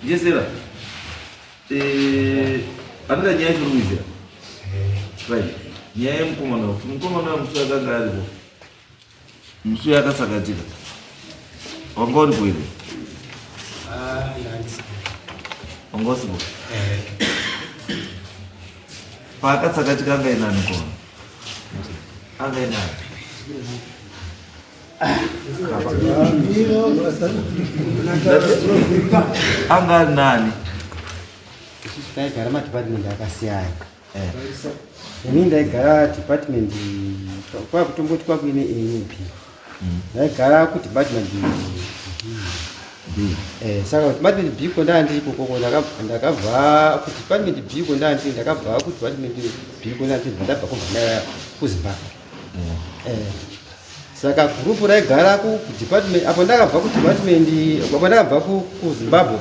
Jesera. Eh, andira nyaya chiri kuizira. Right. Nyaya yemukomana kuti mukomana wemusuya akanga aripo. Musuya akasakatika. Wanga uripo here? Ah, wanga usipo. Paakatsakatika anga inani kona. Anga inani. anga ari nani isusu taigara madhipatimendi akasiyana eh. ini ndaigara dhipatimendi kwakutomboti kwakuine anp mm. ndaigara kudhipatimendi eh, saka kudhipatimendi b ko ndandiri kokoko ndakabva kudhipatimendi b ko ndandiri ndakabva kudhipatimendi b ko ndandiri ndabva kubva kuzimbabwe eh, saka group raigara ku department apo ndakabva ku department apo ndakabva ku, ku zimbabwe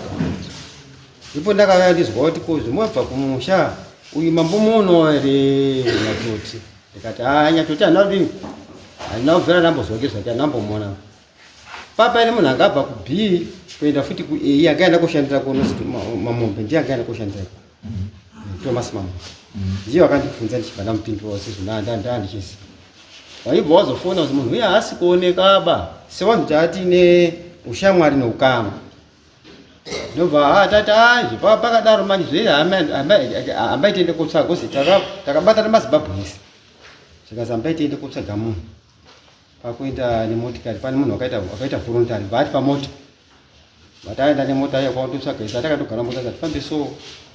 ipo ndakauya ndizwa kuti ko zvimabva kumusha uyu mambo muno ere nyatoti ndikati haa nyatoti handina kudini handina kubvira ndambozwa ngezvake handambomona papa ine munhu angabva ku b kuenda futi ku a akaenda koshandira kuno mamombe ndiye akaenda koshandira Thomas mama ndiye wakandibvunza ndichibva ndamupindura kuti zvinandandandichisi waibva wazofona kuti munhu uye haasi kuoneka ba sewanhu taati ne ushamwari neukama ndobva ha tati anje pava pakadaro manje zvee hamba itiende kotsvaga uzi takabata nemazimbabwe ese zvikazi hamba itiende kotsvaga munhu pakuenda nemotikari pane munhu akaita volontari vaati pamota vataenda nemota iya kwautotsvaga ita takatogara mota tatifambe so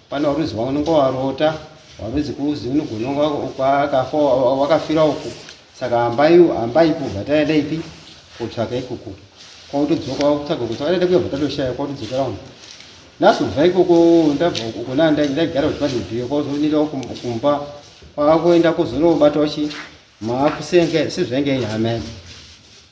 pane waruzi waunenge warota waruzi kuzi unogononga kwakafa wakafira uku saka hambai hambai kubva taenda ipi kotsvaga ikoko kwautodzoka wakutsvaga kuti taenda kuyabva tatoshaya kwautodzokera uno nhasi kubva ikoko ndabva uko ndaigara kuti pandibhiyo kwauzonira kumba kwakuenda kuzonobata uchi maakusenga sezvainge inhamai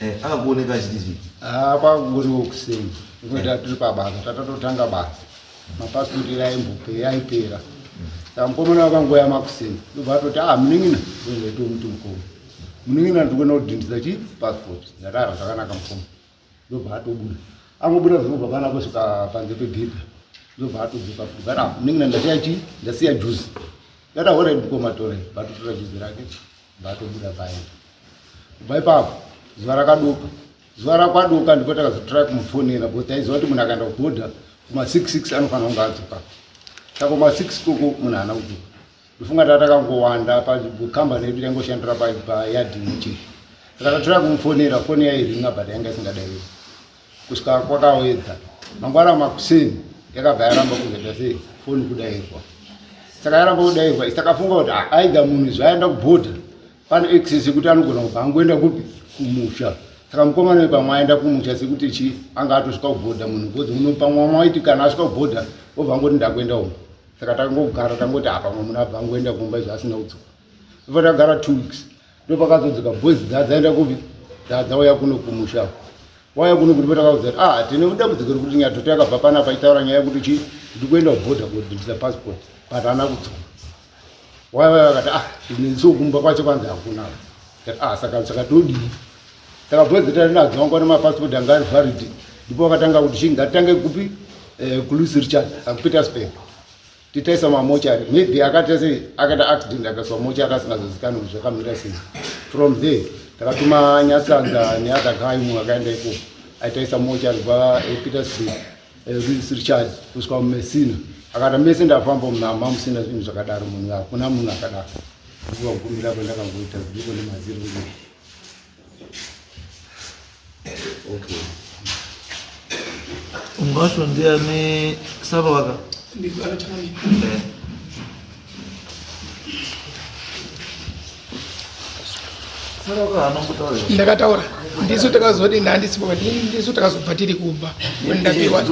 Eh, akakuoneka achiti chii? Ah, kwakungoriwo kuseni. Ngokuti eh. tiri pabasa, tatatotanga basa. Mapasipoti ira aimbopera, aipera. Saka mukomana wakangoya makuseni. Ndobva atoti, ah, munin'ina, ndozoita muti mukoma. Munin'ina ndikuenda kudhindisa chii? Pasipoti. Ndakara zvakanaka mukoma. Ndobva atobuda. Angobuda zvinobva pana kusvika panze pegedhi. Ndobva atodzoka futi. Kana munin'ina ndasiya chii? Ndasiya juzi. Ndati, all right mukoma, torai. Batotora juzi rake. Vatobuda vaenda. Kubva ipapo zuva rakaduka. Zuva rakwaduka ndipo takazotrai kumufonera kuti taiziva kuti munhu akaenda kubhodha kuma 66 anofanira kunge adzoka. Saka kuma 6 koko munhu haana kudzoka. Ndofunga taa takangowanda pakambani yedu taingoshandira payadhi imwe chete. Saka tatrai kumufonera foni yairinga but yanga isingadairiki. kusvika kwakaoedza mangwana makuseni yakabva yaramba kuzoita sei foni kudairwa saka yaramba kudairwa isakafunga kuti ah, aida munhu izvo aenda kubhodha pane access yekuti anogona kubva angoenda kupi kumusha saka mukomana wepamwe aenda kumusha sekuti chi anga atosvika kubhodha munhu bcoz muno pamwe wamwe waiti kana asvika kubhodha obva angoti ndakuenda umu saka takangogara tangoti apa ah, mwe munhu abva angoenda kumba izvo asina kudzoka vakagara two weeks ndopakazodzika boys dzaenda kupi dzauya kuno kumusha waya kuno kuti patakaudza kuti ah tine mudambudziko rekuti nyatoto yakabva pana paitaura nyaya yekuti chi ndi kuenda kuborder kudhindisa passport but haana kudzoka waya vaya vakati ah inenso kumba kwacho kwanzi hakuna ah saka saka todii takabwedzeta nadzo wangu ane mapassport anga ari valid ndipo vakatanga kuti chii ngatitange kupi eh, kulusi richard akupetersburg titaisa mamochari maybe akaita sei akaita accident akaiswa mochari asingazozikanwi kuti zvakamira sei from there takatuma nyatsanza neother guy mumwe akaenda ikoko aitaisa mochari kubva epetersburg eh, eh, richard kusvika mumesina akati mese ndafamba munhu hama musina zvinhu zvakadaro munhu hakuna munhu akadaro ndikuvagumira kwendakangoita zidiko nemaziro Ungacho ndiani saba waka? Ndiko anataka ni. Eh. ndakataura ndisu takazoti ndandisipo ndisu takazobva tiri kumba ndapiwa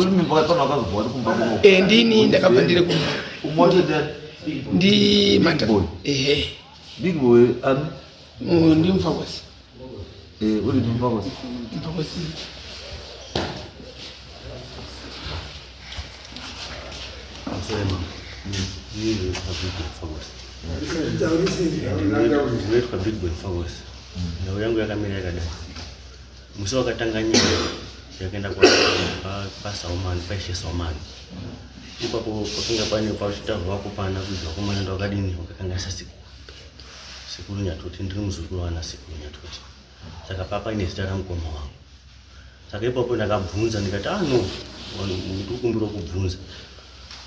eh, ndini ndakabva ndiri kumba ndi mata ehe Uyu ndi mfakosi. Eh, uri ndi mfakosi. Mfakosi. Asema. Yeye ni mfakosi. Ndinoitwa big boy focus nhau yangu yakamira yakadai musi wakatanga nyaya yakaenda pasaumani paishe saumani ipapo pakanga pane pachitaurwa kupana kuizwa kumana ndawakadini wakakangasasika Sekuru Nyatoti ndiri muzukuru wana Sekuru Nyatoti saka papa ine zita ramukoma wangu saka ipapo ndakabvunza ndikati ah no ndikukumbira kubvunza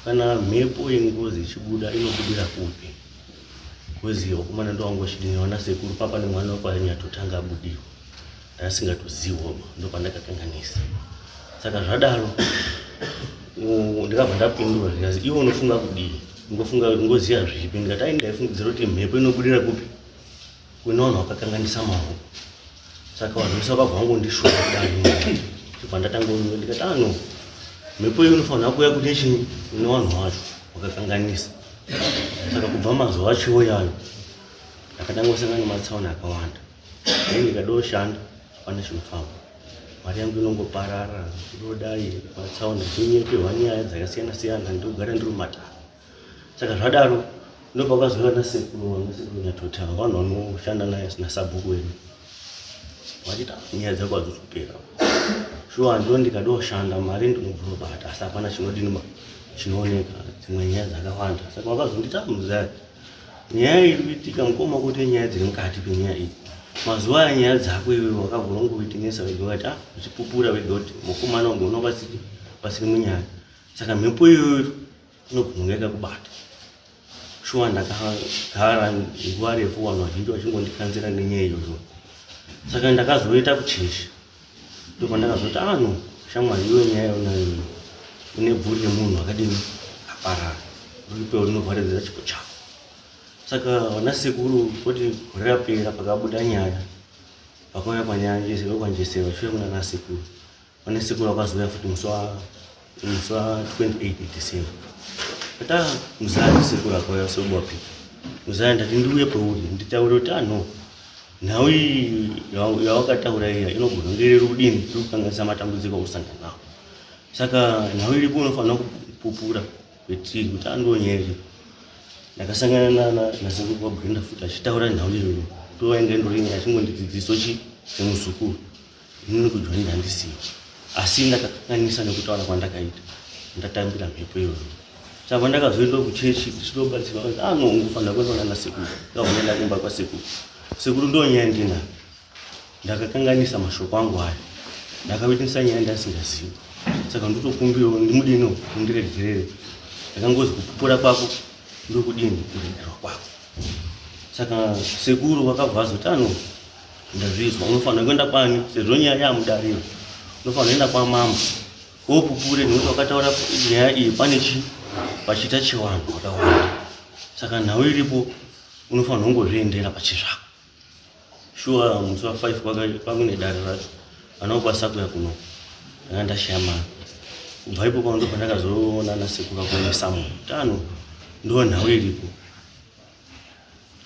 kana mhepo yengozi ichibuda inobudira kupi kozi wakomana ndowangu wachidini wana sekuru papa nemwana wekwa Nyatoti anga abudirwa ndasingatozivo ndopandakakanganisa saka zvadaro ndikabva ndapindura ndikazi iwe unofunga kudii ngofunga ngoziva zvipi ndikati ai ndaifungidzira kuti mhepo inobudira kupi kune vanhu vakakanganisa mavo saka vanhu vese vakabva vangondishuva kudai chibva ndatanga unyuka ndikati ano ah, mhepo iyo unofanira kuuya kuti chii kune vanhu vacho vakakanganisa saka kubva mazuva achiwo yayo ndakatanga kusangana nematsaona akawanda Dai ndikadoshanda hapana chinofamba, mari yangu inongoparara ndodai matsaona ndinyeperwa nyaya dzakasiyana siyana ndogara ndiri mumatara. Saka zvadaro ndopakazouya nasekuru vanga sekuru Nyatoti ava vanhu vanoshanda naye nasabhuku wedu vachita nyaya dzako hadzizopera shuwa ndo ndikadoshanda mari ndinobvunobata asi hapana chinodinima chinooneka dzimwe nyaya dzakawanda saka vakazondita muzaya Nyaya iri kuitika mukoma kuti nyaya dziri mukati penyaya iyi mazuva aya nyaya dzako iwe wakavhura kunge weitenesa vega ukati ah uchipupura vega kuti mukomana ugona vasiri vasiri munyaya saka mhepo iyoyo inogona kunge yakakubata shuwa ndakagara nguva refu vanhu vazhinji vachingondikanzira nenyaya iyoyo saka ndakazoita kucheshi ndopandakazoti ah no shamwari iwe nyaya yaunayo iyo une bvuri remunhu akadini aparara uripewo rinovharidzira chipo chako saka vana sekuru kuti gore rapera pakabuda nyaya pakauya kwanyaya njesero kwanjesero vachiuya kunana sekuru vana sekuru vakazouya futi musi wa It's uh, 28 December. But uh, mzali sekura kwa yaso bopi. Mzali ndati ndiuye pauri nditaure kuti ah no. Nhau iyi yawakataura iya inogona kunge iri rudini tiri kukanganisa matambudziko akusangana nawo. Saka nhau iripo unofanira kupupura kuti kuti andonyeri. Ndakasangana nana nasekuru kwa Brenda futi achitaura nhau iyoyo. Tovainge ndorinyaya achingondidzidziso chi semuzukuru. Ini nekujoin handisiki asi ndakakanganisa nekutaura kwandakaita ndatambira mhepo iyoyo saka ndakazoenda kuchechi ndichitobatsirwa kuti ano ah, ungofanira kuenda kunana sekuru ndakazoenda kumba kwasekuru sekuru ndo nyaya ndina ndakakanganisa mashoko angu aya ndakavitinisa nyaya ndasingazivi saka ndotokumbirawo ndimudino undiregerere ndakangozi kupupura kwako ndokudini kuregerwa kwako saka sekuru vakabva vazoti ano ah, Ndazvizwa unofanira kuenda kwani sezvo nyaya yamudariro. Unofanira kuenda kwa mama. Ko pupure nekuti wakataura nyaya iyi pane chi pachita chiwanhu wakawanda. Saka nhau iripo unofanira kungozviendera pachizvako. Shuwa musi wa 5 kwaka pamwe nedare racho. Anopa sakuya kuno. Ndanga ndashaya mama. Kubva ipo kwandopandakazoona nasekuru akonesa mutano. Ndoo nhau iripo.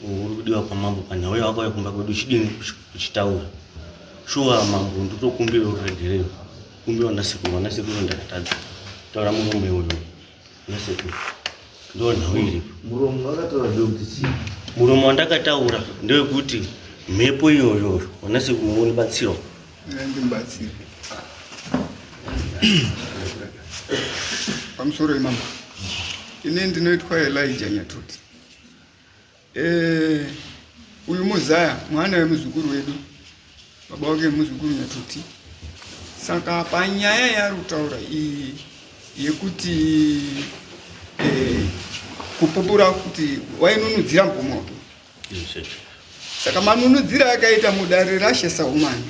uri kudiwa kwamambo panhau yawakauya kumba kwedu chidini kuchitaura shuwa mambo nditokumbira uregereyo kumbira vanasekuru vanasekuru ndakatadza taura murume uyo nasekuru ndo nhau iripo muromo wakataura ndokuti chii muromo wandakataura ndewekuti mhepo iyoyoyo vanasekuru vonibatsirwa pamusoro imama ini ndinoitwa elija nyatoti eh, uyu muzaya mwana wemuzukuru wedu baba wake muzukuru nyatoti saka panyaya yaari kutaura iyi yekuti eh, kupupura kuti wainonudzira mpomoto Saka manunudzira akaita mudare rashe saumani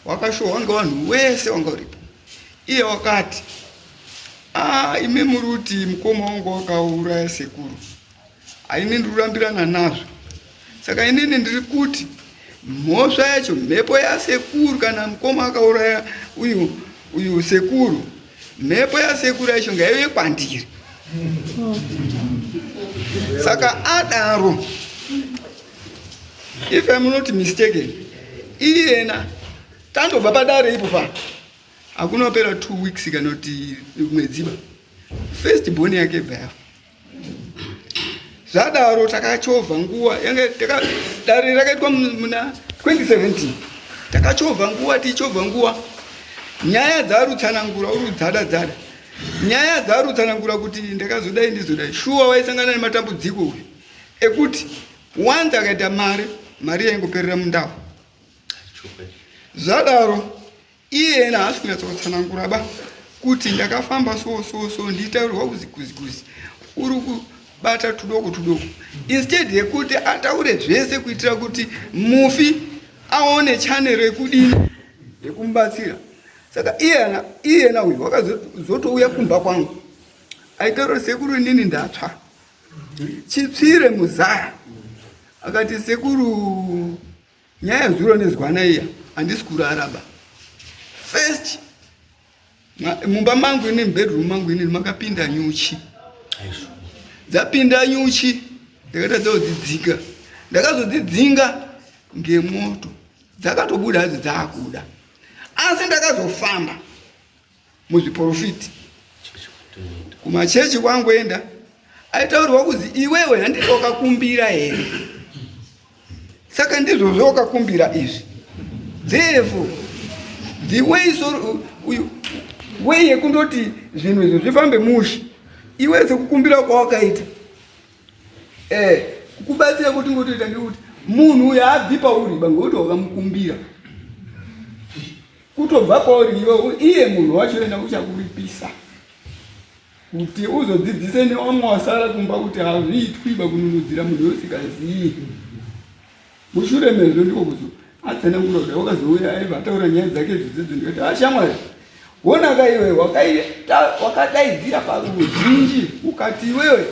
wakashohwa ngevanhu wese wanga uripo. Iye wakati, ah, imi muri kuti mukoma wangu wakauraya sekuru, haini ndiri kurambirana nazvo. Saka inini ndiri kuti mhosva yacho mhepo yasekuru kana mukoma akauraya uyu uyu sekuru mhepo yasekuru yacho ngaive kwandiri saka adaro if I'm not mistaken iyena tandobva padare ipo pa hakunopera two weeks kana kuti mwedziba first boni yake bva yafa zvadaro takachovha nguva yange dare rakaitwa muna 2017 takachovha nguva tichichovha nguva nyaya dzarutsanangura uri dzada dzada nyaya dzarutsanangura kuti ndakazodai ndizodai shuwa waisangana nematambudziko uyu ekuti wanzi akaita mari mari yaingoperera mundau zvadaro iye ena haasi kunyatsotsanangura ba kuti ndakafamba so so so nditaurwa kuzikuzikuzi uri kubata tudoko tudoko instead yekuti ataure zvese kuitira kuti mufi aone chanero yekudini yekumubatsira saka iyena iyena uyu wakazotouya kumba kwangu aitaura sekuru inini ndatsva chipsire muzaya akati sekuru Nyaya zuro nezwana iya handisi kurara ba. First mumba mangu ini bedroom mangu ini makapinda nyuchi. Dzapinda nyuchi ndakatadza kudzidzika. Ndakazodzidzinga ngemoto dzakatobuda hadzo dzakuda asi ndakazofamba muzviporofiti kumachechi kwangoenda aitaurwa kuzi iwewe handiti wakakumbira here saka ndizvo zvawakakumbira izvi therefo the way so way yekundoti zvinhu izvo zvifambe mushe iwe sekukumbira kwawakaita eh kukubatsira kuti ngotoita ngekuti munhu uyo abvi pauri bangokuti wakamukumbira Kutobva kwauri iwe iye munhu wacho ena uchakuripisa kuti uzodzidzise newamwe wasara kumba kuti hazviitwiba kununudzira munhu yousikazivi mushure mezvo ndiko kuzo atsana kunoda wakazouya aiva ataura nyaya dzake zvidzidzo ndikati ashamwari ah, wona ka iwe wakadaidzira paruzhinji ukati iwewe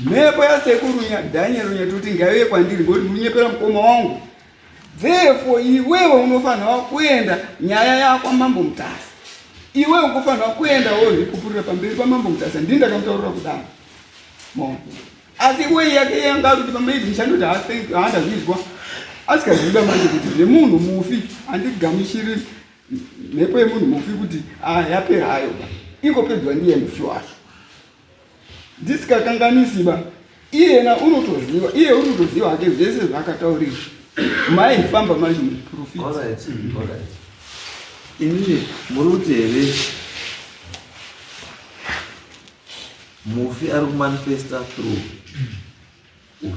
mhepo yasekuru nyadhanyero nyatoti ngaive kwandiri ngoti murunyepera mukoma wangu Therefore iwewe unofanirwa kuenda nyaya yakwa mambo Mutasa. Iwe ukufanirwa kuenda wozvikupurira pamberi pamambo Mutasa ndini ndakamutaurira kudaro. Mom. Asi iwe yake yanga ari kuti pamaidi ndichandoti haanda zvizwa asikaziva manje kuti zvemunhu mufi handigamushiri mhepo yemunhu mufi kuti ah, yapera hayo ingopedzwa ndiye mufi wacho. Dzisingakanganisi ba iyena unotoziva iye unotoziva hake zvese zvaakataurira mai famba manje muprofita inini muri kuti here mufi ari kumanifesta through uyu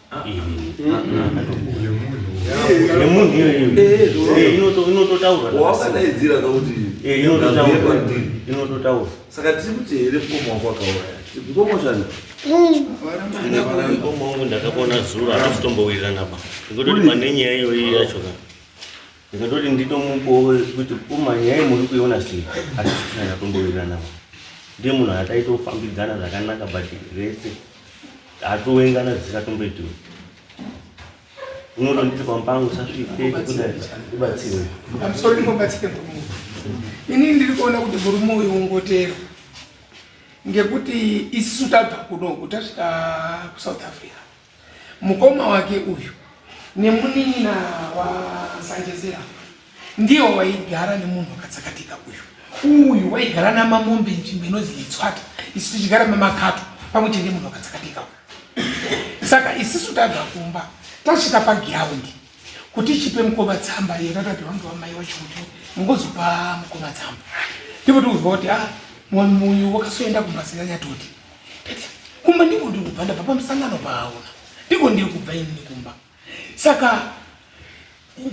yemunhu iyoyoinototaurawaakadaidzira kakuti inototaura saka tiri kuti here mukoma wako akauraya mukoma chani mukoma wangu ndakapona zuro anazvitombowirirana ba ndikutoti pane nyaya iyoyi yacho ka ndikatoti nditomupowe kuti kuma nyaya muri kuiona sei asi tisina ndatombowirirana ba ndiye munhu ataitofambidzana zvakanaka but rese Atowengana dzisatomboitiwe. Unotonditi kwambangu usasvike ubatsirwe. I'm sorry mubatsire murume uyu. Ini ndiri kuona kuti murume uyu ungotero. Ngekuti isisu tabva kunoku tasvika kuSouth Africa. Mukoma wake uyu nemunin'ina waSanjezera. Ndiyo waigara nemunhu wakatsakatika uyu. Uyu waigara namamombe nzvimbo inonzi Litswata. Isu tichigara mamakato pamwe chete munhu wakatsakatika uyu. Saka isisu tabva kumba tasvika pagiraundi kuti chipe mukoma tsamba yatatapiwa ndiwa mai wacho kuti mungozopa mukoma tsamba. Ndipo tikuzwa kuti ah mwamuyu wakasoenda kumba singanyatoti. Kumba ndiko ndikubva ndabva pamusangano paaona. Ndiko ndiri kubva ini kumba. Saka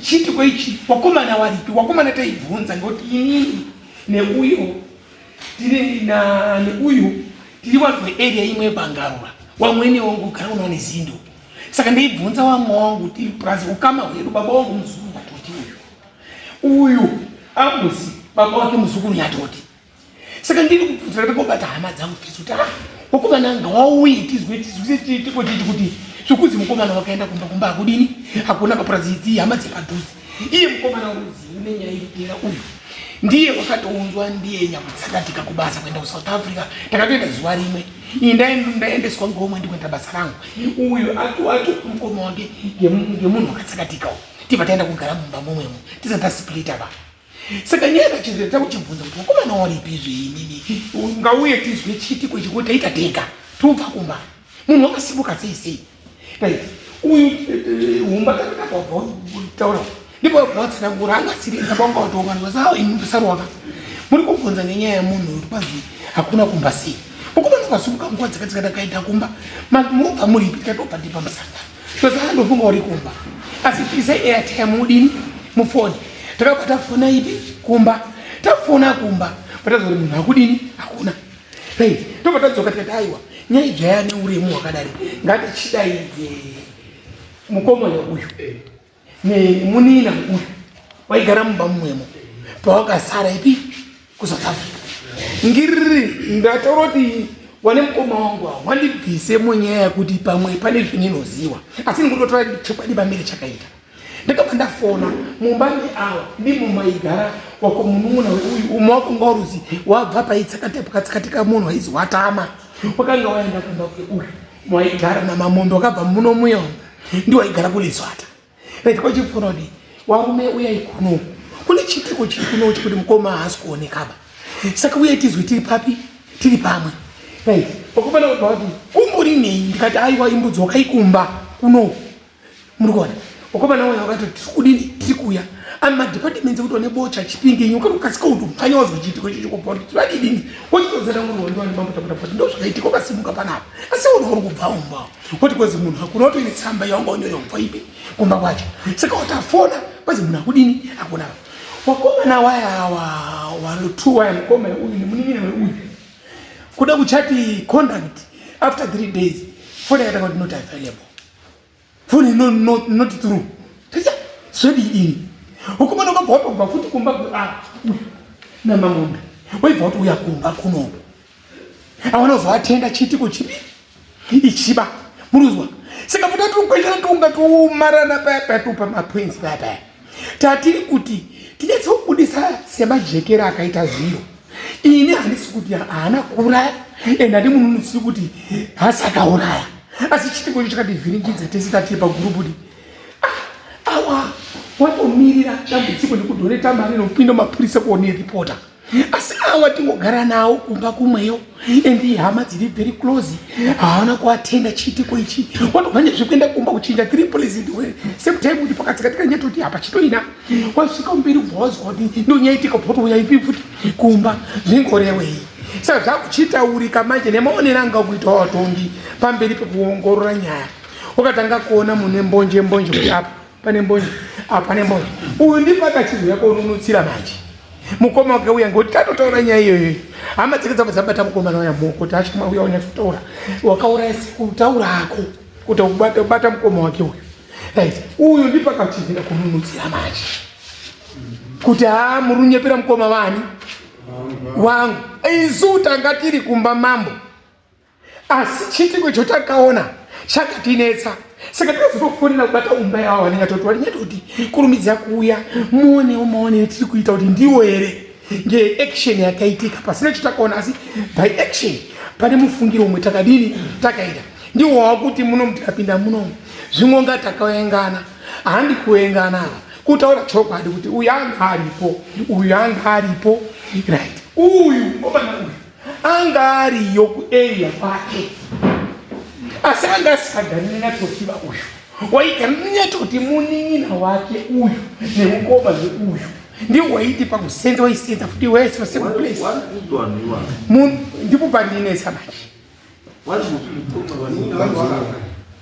chiitiko ichi wakomana waripi wakomana taibvunza ngekuti inini neuyo tiri na neuyu tiri vanhu vearea imwe yebangarura wamwene wangu ugara unawo nezindo saka ndaibvunza wamwe wangu tiri purazi ukama hwedu baba wangu muzukuru nyatoti uyu uyu ambusi baba wake muzukuru nyatoti saka ndiri kubvunzira ndakobata hama dzangu fisi kuti ah mukomana anga wauye tizwe tizwe tiko titi kuti zvekuzi mukomana wakaenda kumba kumba hakudini hakuna mapurazi idzi hama dzepadhuze iye mukomana waruzivi nenyaya iripera uyu ndiye wakatounzwa ndiye nyakutsakatika kubasa kuenda kusouth africa takatoenda zuva rimwe iyi ndaendeswa ngomwe ndikuenda basa rangu uyu ati mukoma wange ngemunhu wakatsakatika u tibva taenda kugara mumba momwemo tisati tasplita vanhu saka nyaya kachirira ta kuchibvunza kuti vakomana waripi zveinini ungauye tizwe chiti kwechikuti taita tenga tobva kumba munhu wakasimuka sei sei dai uyu humba takakabva taura ndipo bvatsanangura angasiri ndabanga watonga ndivasaa ini ndisarwaka muri kubvunza nenyaya yemunhu uri kwazi hakuna kumba sei ukubana ukasimuka nguva dzakadzikatakaita kumba murubva muripi tikatobva ndipa musangano Ndosaka ndofunga uri kumba. Asi tise airtime udini mufoni. Takabata fona ipi kumba. Tafona kumba. Patazori munhu akudini hakuna. Hey, tobva tadzoka tikati aiwa. Nyaya idzvaya neuremu hwakadari. Ngatichidaidze mukomo uyu. nemunina uyu waigara mumba mumwemo pawakasara ipi kusouth africa ngiriri ndataura kuti wane mukoma wangu awo wandibvise munyaya yekuti pamwe pane zvininoziwa asi ndikutotora chokwadi pamberi chakaita ndakabva ndafona mumba meawa ndimo maigara wako munun'una weuyu umwe wako nga uruzi wabva paitsakatepukatsikateka munhu waizi watama wakanga waenda kumba kweuyu Mwaigara namamondo akabva muno muya ndiwo aigara kulizwata right kwachifunodi warume uyai kuno kune chitiko chiri kuno chekuti mukoma haasi kuonekaba saka uyai tizwi tiri papi tiri pamwe right wakufana kubva kuti kumburinei ndikati aiwa imbudzi wakaikumba kuno muri kuona wakomana waya wakati tiri kudini tiri kuuya ami madepartments ekuti wane bocha chipinge inyo kana ukasika kuti mhanya wazwa chiitiko icho chokubva kuti vadidini wachitozera kuti wandi wani mambo takuta kuti ndo zvakaitika ukasimuka panapa asi wona uri kubva umba woti kwezi munhu hakuna utoine tsamba yawanga unyore kubva ipi kumba kwacho saka watafona kwezi munhu akudini akuna wakomana waya walutu waya mukoma uyu nemunin'ina weuyu kuda kuchati conduct after three days fona yatanga kuti not available foni ino inoti turu zvedi ini ukumana ukabva watobva futi kumba ah, namamombe waibva kuti uya kumba kunoku awana uzovatenda chiitiko chipi ichiba muruzwa saka muda tiri kukweshana tiunga tiumarana paya paya tiupa maprinzi paya paya tatiri kuti tinetse kubudisa semajekera akaita zviro ini handisi kuti haana kuuraya and handi munhu unosiri kuti hasi akauraya asi chitiko cho chakativhiringidza tese tatiri pagurupudi ah, awa watomirira dambudziko nekudhoneta mari nokupinda mapurisa kuone ripota asi awa tingogara nawo kumba kumweyo and ihama dziri very close haana kuatenda chiitiko ichi watobva nezvekuenda kumba kuchinja three police ndiwe same time kuti pakatsikatika nyaya toti hapa chitoina wasvika mberi ubva wazwa kuti ndonyaitika bva watouya ipi futi kumba zvingorewei saka zvakuchitaurika manje nemaonero anga kuita watongi pamberi pekuongorora nyaya wakatanga kuona mune mbonje mbonje kuti apa pane mbonje apa ah, pane mbonje uyu ndipaka chinhu yako unonutsira manje mukoma wake uya ngokuti tatotaura nyaya iyoyo hama dzake dzabva dzabata mukomana waya moko kuti achama uya unyatsotaura wakauraya kutaura ako kuti ubata mukoma wake uyu right uyu ndipaka chinhu ida kununutsira manje kuti haa ah, muri unyepera mukoma vani wangu isu tanga tiri kumba mambo asi chiitiko icho takaona chakatinetsa saka tinozotofonera kubata umba yavo vanenge toti varinyaita kuti kurumidzira kuuya muonewo maonere tiri kuita kuti ndiwo here ngeaction yakaitika pasina cho takaona asi by action pane mufungiro umwe takadini takaita ndiwo wava kuti muno mutikapinda munomu zvimwe nga takaengana handi kuengana ava kutaura chokwadi kuti uyu anga aripo uyu anga aripo right uyu obana uyu anga ariyo kuarea kwake asi anga asikagari nenyatokiva uyu waigara nenyatoti munin'ina wake uyu nemukoma neuyu ndiwo waiti pakusenza waisenza futi wese wasemuplace ndipo pandinesa manje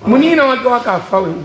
munin'ina wake wakafa weuyu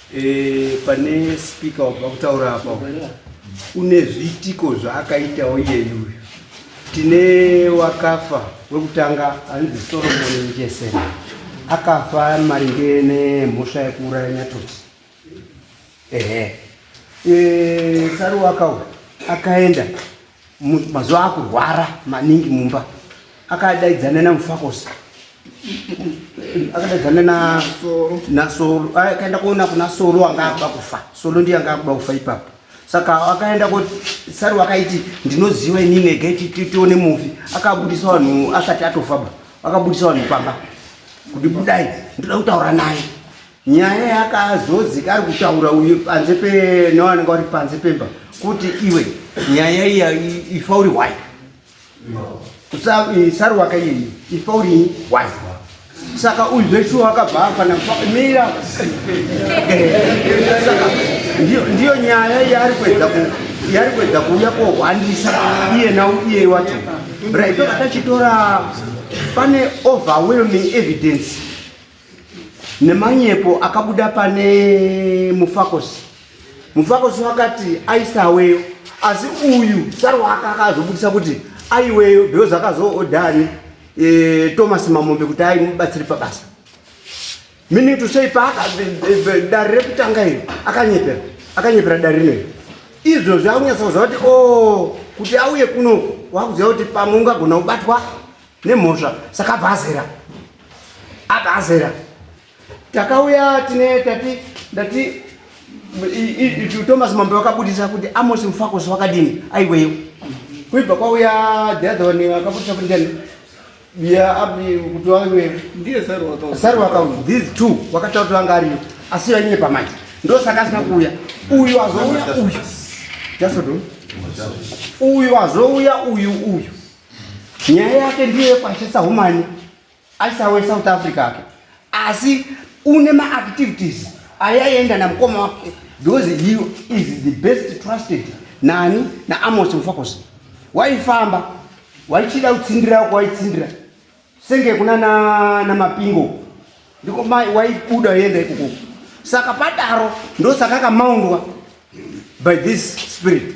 Eh, pane speaker wabva kutaura apa une zviitiko zvaakaitawo iyeyu uyu tine wakafa wekutanga anzi solomoni njesen akafa maringe nemhosva yekuuraya nyatoti ehe e, saruwaka uyu akaenda mazuva akurwara maningi mumba akadaidzana namufakosi akadaidzana nasolo akaenda kuona kuna solo anga akuda kufa solo ndiye anga akuda kufa ipapo saka akaenda kuti sari wakaiti ndinoziva inini ega tione mufi akabudisa vanhu asati atofaba akabudisa vanhu pamba kuti budai ndoda kutaura naye nyaya yakazozika ari kutaura uyu panze penawananga wari panze pemba kuti iwe nyaya iya ifa uri wai saruwaka iyi ifa uri wai saka uyu zveshuwa wakabva afana mira ndiyo nyaya yaari kuedza yaari kuedza kuuya kohwandisa iye nau iye wacho raitoka tachitora pane overwhelming evidence nemanyepo akabuda pane mufakosi mufakosi wakati aisaweyo asi uyu sarwaka akazobudisa kuti aiweyo because akazoodhani e, eh, thomas mamombe kuti aimubatsiri pabasa meaning to say paaka dare rekutanga iri akanyepera akanyepera dare rinoiri izvo zvakunyatsa kuziva kuti o oh, kuti auye kuno wakuziva kuti pamwe ungagona kubatwa nemhosva saka abva azera abva azera takauya tine tati ndati thomas mambe vakabudisa kuti amosi mufakosi wakadini aiweyo kuibva kwauya the other one vakabudisa kuti ndani kuti wave ndiye saru wakaunzi these two wakataura kuti vanga ariyo asi vanyine pamanje ndosaka asina kuuya uyu azouya uyu jasodon uyu azouya uyu uyu nyaya yake ndiyo yekuashesa humani ashisa wesouth africa ake asi une maactivities ayaienda namukoma wake because he is the best trusted nani naamos mufakosi waifamba waichida kutsindira wako waitsindira senge kuna namapingo ndiko mai waibuda yenda ikoko saka padaro ndosaka akamaundwa by this spirit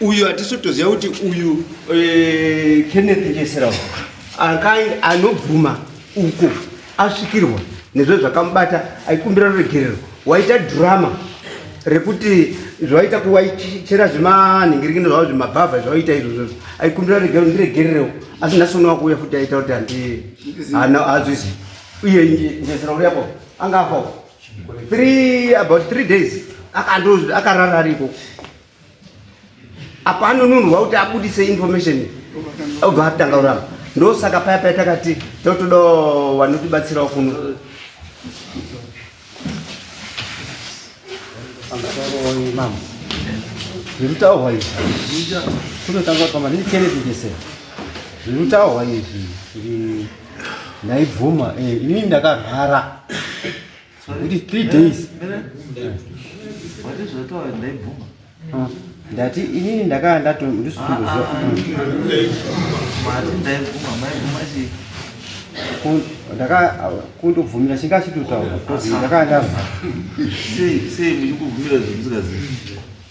uyu hatisi kutoziva kuti uyu eh, kenneth njesera anobvuma uko asvikirwa nezve zvakamubata aikumbira ruregerero waita drama rekuti zvaita kuwaichera zvemanhingiringino zvavo zvemabhavha zvawaita izvozvozvo aikumbira ruregerero ndiregererewo asi nhasi uno wakuuya futi aita kuti handi haazoizivi uye njesera uriyapo anga afawo three about three days akandozi akarara ariko apa anonunurwa kuti abudise information obva atanga kuramba ndosaka paya paya takati totoda vanotibatsirawo kuno mama zvirutaurwa izvi kunotanga kuti mama ndindicherechekese zvirutaurwa izvi ndaibvuma eh, ini ndakarwara kuti three days ah, ndati inini ndakaa ndakundobvumira ah, ah, chingachitotaura ndakaa ndava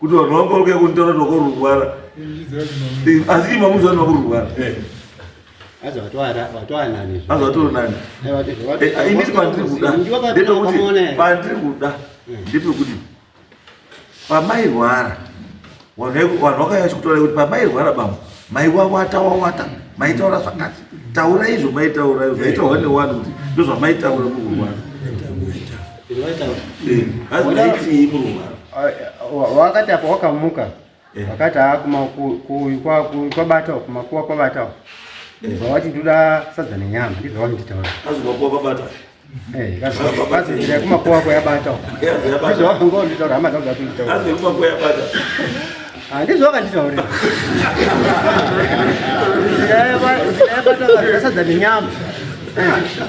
kuti vanhu vangoroke kunitaura kuti vakorurwara asi ima munzi vanhu vakorurwara azvatoonaniinisi pandiri kuda ndepekuti pandiri kuda ndepekuti pamairwara vanhu vakaya chikutaura kuti pamairwara bambo maiwawata wawata maitaura zvakati taura izvo maitaura izvo maitaura newani kuti ndozvamaitaura mukurwara wakati apa wakamuka eh. wakati kwabatao ah, kumakuwa kwabatao eh. zvawati ndoda sadza nenyama ndizvawati nditaura kumakuwa kwayabatao ndizvawati nditaura hama dzangu dzati nditaura handizvo vakanditaurira ndaibataasadza nenyama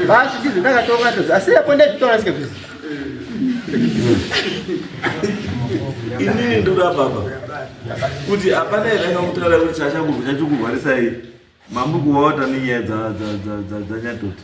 basi ndizvo ndakatonga ndozi asi apo ndaizvitaura sike kuzi inini ndoda baba kuti hapana here angakutoda kuti chachakubva chachokurwarisai mamukuvaota nenyaya dzanyatoti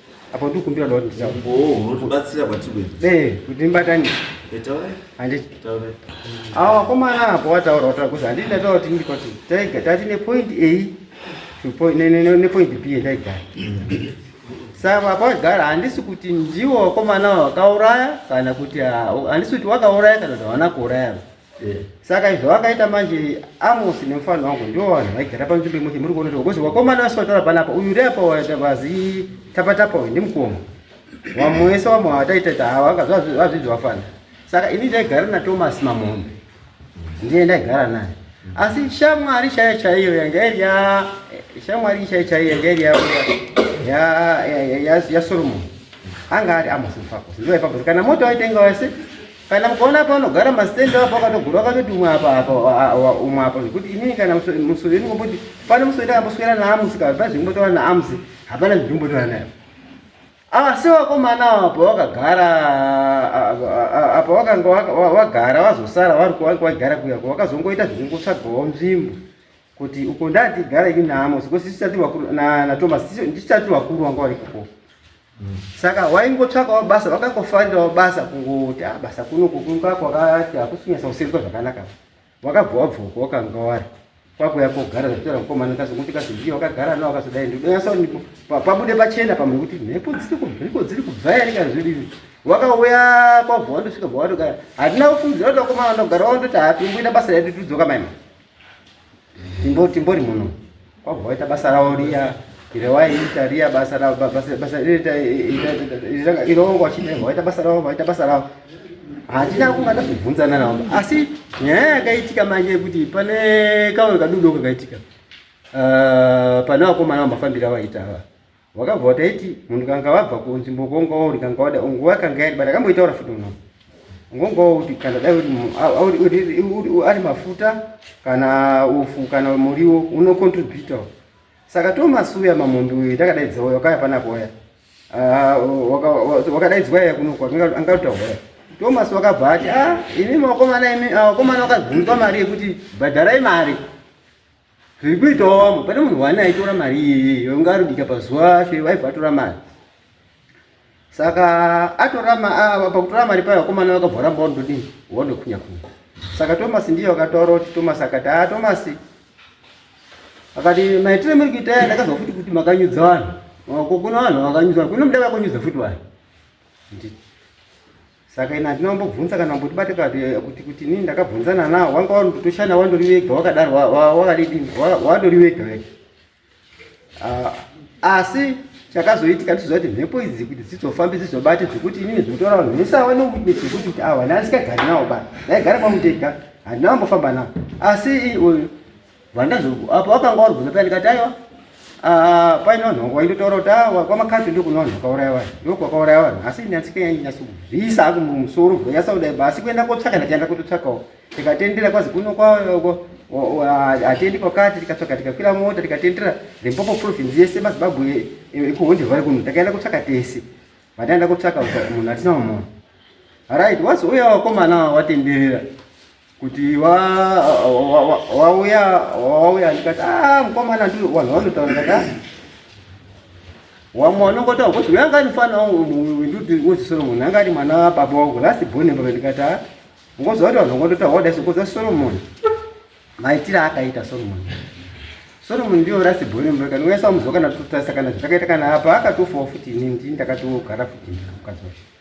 Apa ndiri kumbira kuti nditaure. Umboo unotibatsira kwatiri kuenda. Eh, kuti ndibatanise. Eh, taura. Handiti. Taura. Awa wakomana apo wataura wataura kuti handiti ndataura kuti ndiri kwati taiga tati ne point A to point ne ne ne point B ndaigara. Saka apa wagara handisi kuti ndiwo wakomana wakauraya kana kuti ah, handisi kuti wakauraya kana kuti hawana kuuraya. Eh. saka izvo vakaita manje amosi nemufanira wangu ndivo vanhu vaigara panzvimbo imwe chimuri kuona kuti wakomana vese vataura panapa uyu uri apa vazi tapatapa uyu ndimukoma vamwe wese vamwe vataitata hava vazvizvi vafana saka ini ndaigara natomasi mamombe ndiye ndaigara naye asi shamwari chaiyo chaiyo yanga iri ya shamwari chaiyo chaiyo yanga iri ya ya ya ya Solomon anga ari Amos Mfakosi ndiye Mfakosi kana moto waitenga wese kana mukaona apa anogara mastand apo akatogura akatoti umwe apa apa umwe apa zvekuti inini kana musoro yenyu ngomboti pane musoro ndakamboswera naamusi kana pane zvekumbotaura naamusi hapana zvekumbotaura nayo asi ah, vakomana apa wakagara apa wakanga wagara wazosara vari kuwanga wagara kuya ko wakazongoita zvekungotsvagawo nzvimbo kuti uko ndatigara ini naamusi ko sisi tati vakuru na thomas ndichitati vakuru wanga vari kuko Saka waingotsvakawo basa, wakangofarirawo basa kungoti ah, basa kuno kukunga kwakati hakusinyasa kusenzwa zvakanaka. Wakabva wabvuka wakanga wari kwakuya kogara zvakutaura mukomana kazokuti kazozviya wakagara nawo kazodai ndinonyasa pabude pachena pamwe kuti mhepo dziri kubviko dziri kubva yari kana zvidii wakauya kwabva wandosvika bva watogara handina kufungidzira kuti wakomana ndogara wandoti hapinguina basa redu tudzoka maima Timbo timbori muno. Kwabva waita basa ravo riya ire waiita riya basa ravo basa basa iriita ire wanga wachidaiwa waita basa ravo waita basa ravo. Hatina kungada kubvunzana navo asi nyaya yakaitika manje yekuti pane kamwe kadudo kakaitika. Uh, pane vakomana vambafambira vaita ava. wakabva wataiti munhu kanga wabva kunzvimbo kongawo uri kanga wada nguva yakanga yadi but akamboitaura futi uno ngongawo kuti kana dai ari mafuta kana ufu kana muriwo unocontributa saka tomasuya mamombe uyu ndakadaidza uya wakaya panako uya ah, wakadaidzwa iya kunoko angauta uya tomas wakabva ati a ah, imi makomana imi ah, wakomana wakabvunzwa mari yekuti bhadharai mari zviri kuitawo vamwe pane munhu wani aitora mari iyiyi yonga aribika pazuva ashe vaiva atora mari saka atora ah, pakutora mari payo vakomana vakabva varamba wandodini wandokhunya khunya saka tomasi ndiye wakataura kuti tomasi akati a ah, tomasi akati maitire muri kuita ya ndakazwa futi kuti makanyudza vanhu kuna vanhu vakanyudza kuno muda vakonyudza futi vanhu saka ini handina kumbobvunza kana mbotibate kuti kuti inini ndakabvunzana nawo wanga wandotoshanda wandori wega wakadaro wakadidini wandori wega wega ah, asi chakazoitika ndichiziva kuti mhepo idzi kuti dzidzofambi dzidzobate zvekuti inini zvinotora vanhu vese ava newitness zvekuti kuti awa naasingagari nawo bana ndaigara kwamutega handina kumbofamba nawo asi uyu Vandazuku apo wakanga warubvunza paya ndikati aiwa ah, painonhoka waindotaura kuti ah, kwamakati ndokunonhoka kwauraya vanhu ndokwakauraya vanhu asi nyatsika yainyasa kubvisa aku mumusoro vhura yasaudai ba asi kuenda kotsvaka ndatienda kutotsvakawo tikatendera kwazi kuno kwako hatiendi kwakati tikatsvaka tikakwira mota tikatendera the mpopo province yese mazimbabwe ekuhonde vari kuno takaenda kutsvaka tese vataenda kutsvaka munhu atina mumona right wazouya wakomana watenderera kuti wauya wauya ndikati ah mukomana ndi vanhu vanotaura ndikati ah, wamwe wanongotaura kuti uyu angati mfana wangu ndikuti uzi solomoni angati mwana wababa wangu last born mbaka ndikati ah ngoziva kuti vanhu vangototaura wadai sokoza solomoni maitire akaita solomoni solomoni ndiyo last born mbaka ndinoyesa muzoka ndatotarisa kana zvakaita kana apa akatofawo futi ini ndini ndakatogara futi mukadzi wacho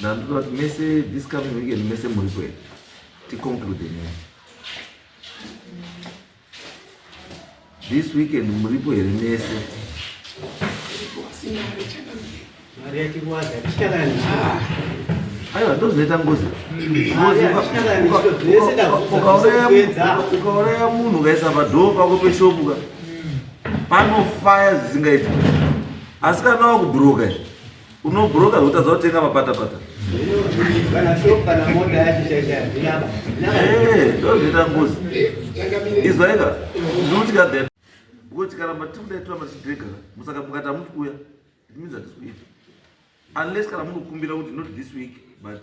Ndandiona kuti mese this coming weekend mese muri kwenu. Ti conclude ne. This weekend muri po here mese? Mari yake kwaza chikalani. Aiwa ndozoita ngozi. Ukauraya munhu ukaisa padhoo pako peshopuka panofaya zvisingaiti. Asi kana wakubhuroka izvi Unobroka zvotadza kutenga mapatapata. Eh, ndozvita ngozi. Izwaika. Ndinotya that. Because tikaramba tikuda turamba tichidrega musaka mukati hamusi kuuya. It means that it's week. Unless kana munokumbira kuti not this week but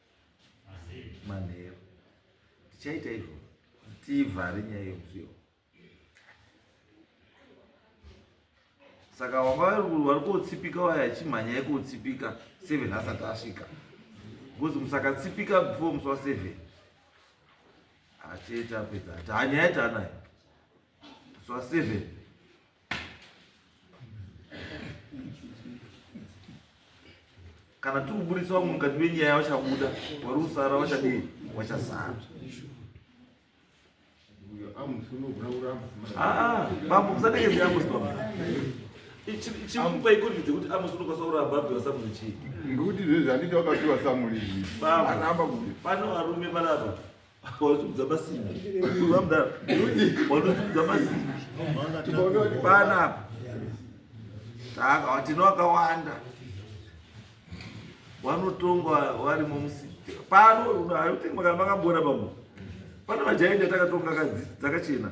manheru tichaita izvo tivhare nyaya yemusiyo saka wanga vari kotsipika waya achimhanya ikotsipika seven asati asvika bcause musakatsipika before musi wa seven achete apedza ati hanyaya taanayo musi wa seven kana tiri kuburitsa vamwe mukati menyaya vachabuda vari kusara vachadii vachasara bambo musatekeze amosi bambo chimupa ikondi dzekuti amosi unokwanisa kuramba apiwa samuri chii ngokuti zvezvi handiti wakapiwa samuri aramba kuti pano varume varapa Wazungudza masimbi. Wamdara. Wazungudza masimbi. Tikaona kuti pana apa. Saka watino wakawanda. Wanotongwa wari mumusika. Pano unotenga kana makambona pamwe. Pana majainda takatonga kadzi dzakachena.